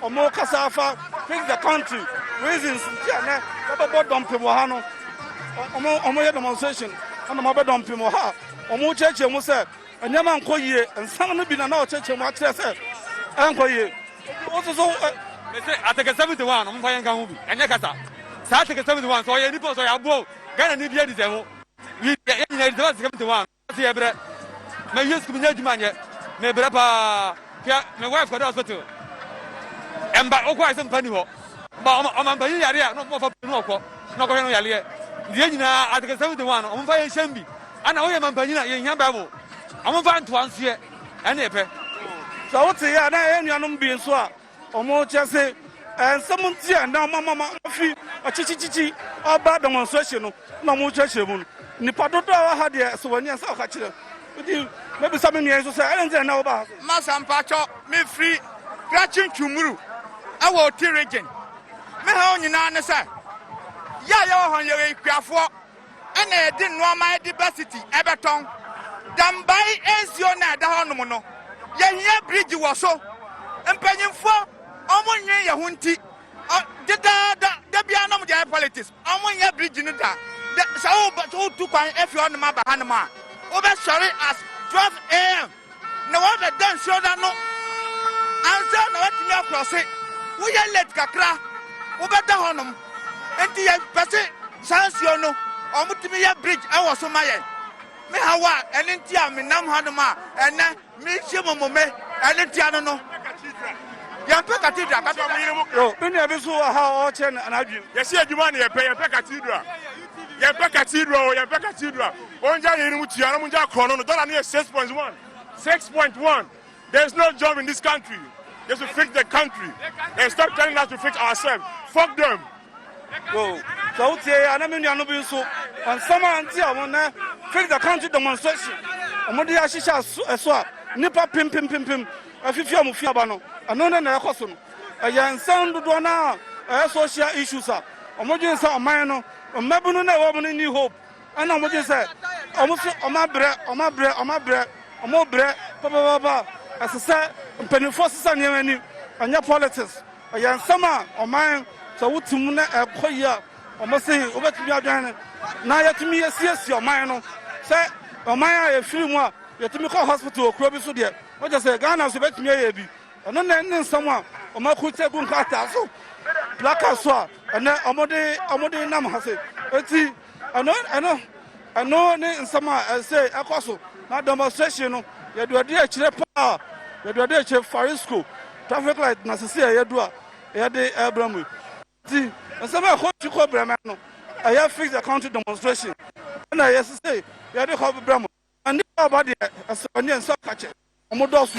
Wɔrekasa afa Fix the Country reasons nti a na wɔbɛbɔ dɔmpem wɔ ha no. Wɔyɛ demonstration na wɔabɛ dɔmpem wɔ ha. Wɔrekyerɛkyerɛ mu sɛ nneɛma nkɔ yie. Nsɛm no bi na na wɔkyerɛkyerɛ mu akyerɛ sɛ ɛnkɔ yie. Wotu so. Mese Article 71 no, momfa yɛnka ho bi. Ɛnyɛ kasa. Saa Article 71 sɛ ɔyɛ nipa sɛ ɔyɛ aboa o, Ghana ni bi adi sɛ ho. Yɛ nyina yɛdi sɛ Article 71. Ɔse yɛbrɛ ma wie sukuu menya adwuma nyɛ mebrɛ paa hwɛ me wife kɔda hospital ɛmba wokɔ ayɛ sɛ mpa ni hɔ ba ɔma mpanyin yare a na ɔmo ɔfa pii na ɔkɔ na ɔkɔhwɛ no yareɛ nti yɛn nyinaa ateke sɛm de wɔn ano ɔmo mfa yɛn hyɛm bi ana woyɛ ma mpanyin a yɛn hia bible ɔmo mfa ntoa nsoɛ ɛne ɛpɛ sɛ wote yɛ a na ɛyɛ nuanom bi nso a Wɔte ase nsɛm nti a na wɔama ma wɔafi ɔkyekyekyekye ɔba demonstration no na wɔrekyerɛkyerɛ mu no. Nnipa dodoɔ a wɔha deɛ sɛ wɔn ani asɛ ɔka kyerɛ. Nti mɛbisa me nua yi nso sɛ ɛne nti na na wobaa ha sɛ? Masa mpakyɛ mefiri Krachi Ntwumuru ɛwɔ Oti region. Me haw nyinaa ne sɛ yɛ a yɛwɔ hɔ no yɛyɛ akuafoɔ. na yɛde nnoɔma de ba City bɛtɔn. Dambai nsuo no a ɛda hɔ nom no, yɛhia bridge wɔ so. Mpanyinfoɔ wɔn nnwen yɛn ho nti, dedaada da biara nom de ayɛ politics. Wɔn nyɛ bridge no da. Sɛ wotu kwan efi hɔ nom aba ha nom a, wobɛsɔre as 12 am. Na wabɛda nsuo no ano ansa na watumi akrɔse. Woyɛ late kakra wobɛda hɔnom. Nti yɛpɛ se saa nsuo no wɔtumi yɛ bridge wɔ so ma yɛn. Me haw a ɛno nti a menam hanom a ɛnnɛ merehyia mo mmome ɛno nti ano no. Yɛmpɛ cathedral. Cathedral. Me nua bi nso wɔ ha a ɔrekyerɛ n'adwene. Yɛsi adwuma na yɛpɛ yɛmpɛ cathedral. Yɛmpɛ cathedral o yɛmpɛ cathedral. Ongya yei no mu tua na ɔmo ngya korɔ no no dollar no yɛ six point one six point one there is no job in this country they should fix the country and stop telling us to fix ourselves fuck them. Yo, sɛ wo tie yɛ na me nua no bi nso nsɛm a nti a wɔn nɛ fix the country demonstration wɔn de ahyehyɛ ɛso ɛso a nipa pim pim pim pim afifi wɔn fi aba no ɛno ne na ɛkɔ so no ɛyɛ nsɛm dodoɔ na ɛyɛ social issues a wɔn dwen sɛ ɔman no mmabunu na ɛwɔ mu no ni hope. Ɛna wɔn gye sɛ wɔn so wɔn abrɛ, wɔn abrɛ, wɔn abrɛ, wɔn brɛ papaapa. Ɛsɛ sɛ mpanimfoɔ sesa nneɛma ani, ɛnyɛ politics. Ɛyɛ nsɛm a ɔman sɛ wote mu na ɛkɔ yie a, wɔn se wobɛtumi adwene na yɛtumi yɛsiesie ɔman no. Sɛ ɔman a yɛfiri mu a yɛtumi kɔ hospital wɔ kuro bi so deɛ, wɔgye sɛ Ghana so bɛtumi ayɛ bi. Ɛno na ɛne nsɛm a wɔn akurukyɛ gu nkrataa so, placards so a ɛnɛ wɔde wɔde nam ha se. Eti Ɛno ɛno ɛno ne nsɛm a ɛsɛ ɛkɔ so na demonstration no yɛde ɔde akyire paa yɛde ɔde akyire farisco traffic light na sisi a yɛdu a yɛde ɛbrɛ mu ti nsɛm a ɛkɔ ti kɔ brɛ mɛ no ɛyɛ fix the country demonstration ɛna yɛ sisi yɛde kɔ brɛ mu ɛne ɔba deɛ ɛsɛ ɔne nsa kakyɛ wɔn dɔso.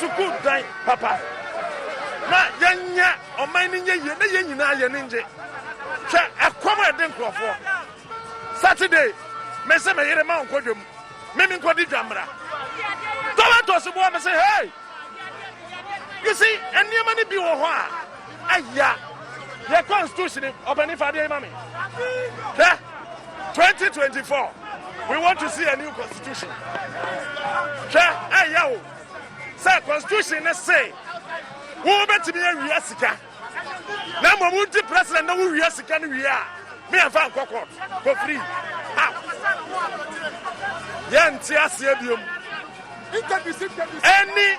sukuu dan papa na yɛnyɛ ɔman no nyɛ yie na yɛn nyinaa yɛn ani ngye hwɛ ɛkɔm a ɛde nkurɔfoɔ saturday mese me yere ma ɔnkɔ dwam meme nkɔdi dwammara tɔlɛtɔs boɔ mese hei you see nneɛma no bi wɔ hɔ a Aya yɛ constitution ɔpɛni fa adeɛ yi ma me hwɛ 2024 we want to see a new constitution hwɛ ɛyɛ o sɛ constitution ne se wo bɛtumi awia sika na mmom wonti president na wowia sika no wie a me ɛmfa nkɔ court kɔ free how yɛnte aseɛ biom ɛni